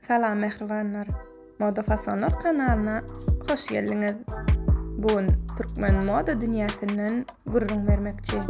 Salam mähribanlar! Moda fasonlar kanalyna hoş geldiňiz! Bu gün türkmen moda dünýäsinden gürrüň bermekçi.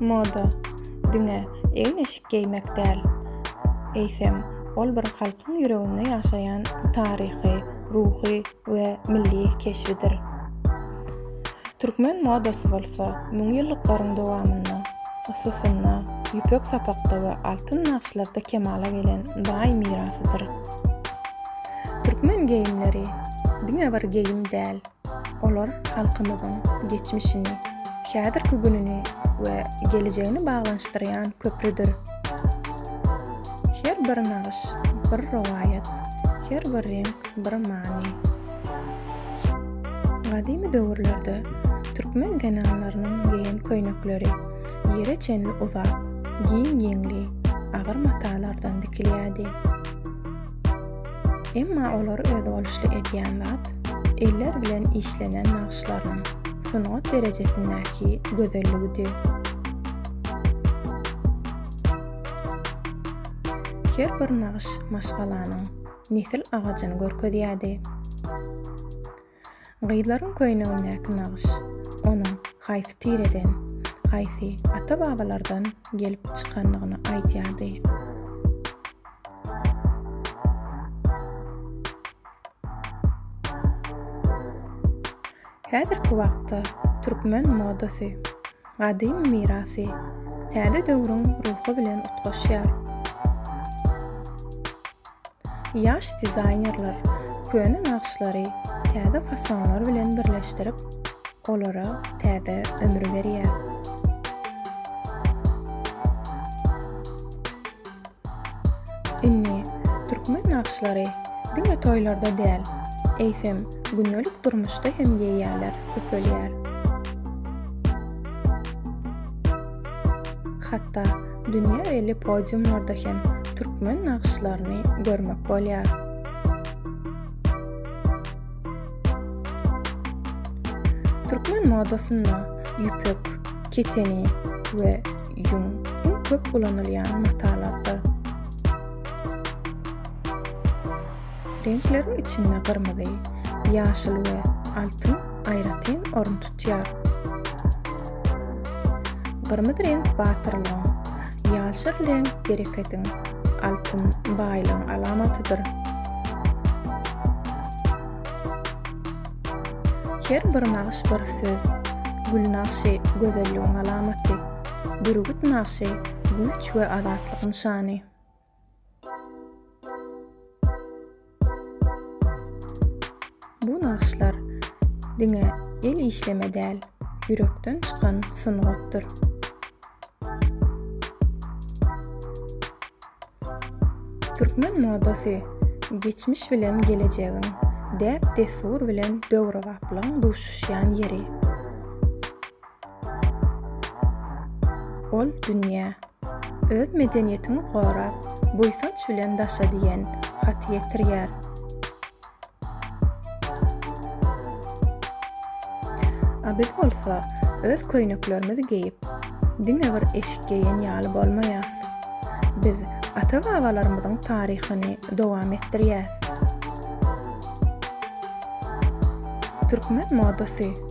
Moda, diňe egin-eşik geýmek däl, eýsem, ol bir halkyň ýüreginde ýaşaýan taryhy, ruhy we milli keşbidir. Türkmen modasy bolsa müňýyllyklaryň dowamynda ysysynda, ýüpek sapakda we altyn nagyşlarda kemala gelen baý mirasydyr. Türkmen geýimleri diňe bir geýim däl, olar halkymyzyň geçmişini, häzirki gününi we gelejegini baglanyşdyrýan köprüdir. Her bir nagyş, bir rowaýat, her bir reňk bir many. Gadymy döwürlerde türkmen zenanlarynyň geýen köýnekleri ýere çenli uzak, giň ýeňli, agyr matalardan dikilýärdi. Emma olary özboluşly edýän zat eller bilen işlenen nagyşlaryň sungat derejesindäki gözelligidi. Her bir nagyş maşgalanyň nesil agajyny görkezýärdi. Gyzlaryň köýnegindäki nagyş onuň haýsy tireden, haýsy ata-babalardan gelip çykandygyny aýdýardy. Häzirki wagtda türkmen modasy Gadymy mirasy, täze döwrüň ruhy bilen utgaşýar. Ýaş dizaýnerler köne nagyşlary täze fasonlar bilen birleşdirip, olara täze ömür berýär. Indi türkmen nagyşlary diňe toýlarda däl, eýsem, Gündelik durmuşda hem ýeýýäler köpelýär. Hatda dünýä belli podiumlarda hem türkmen nagyşlaryny görmek bolýar. Türkmen modasynda ýüpek, keteni we ýüň iň köp ulanylýan matalardyr. Reňkleriň içinde gyrmyzy, ýaşyl we altyn aýratyn orun tutýar. Gyrmyzy reňk batyrlygyň, ýaşyl reňk berekediň, altyn baýlygyň alamatydyr. Her bir nagyş bir söz, gül nagşy gözelligiň alamaty, bürgüt nagşy güýç we azatlyk nyşany. Bu nagyşlar diňe el işleme däl, ýürekden çykan sungatdyr. Türkmen modasy geçmiş bilen gelejegiň, däp-dessur bilen döwrebaplygyň duşuşýan ýeri. Ol dünýä, Öz medeniýetiňi gora, buýsanç bilen daşa diýen haty ýetirýär. A biz bolsa öz köýneklerimizi geýip, diňe bir eşik geýen ýaly bolmaýas. Biz ata-babalarymyzyň taryhyny dowam etdirýäs. Türkmen modasy.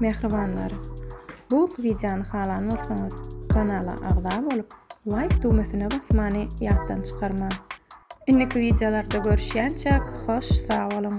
Mähribanlar! Bu wideony halan bolsaňyz, kanala agza bolup, laýk düwmesine basmany ýatdan çykarmaň! Indiki wideolarda görüşýänçäk, hoş sag boluň!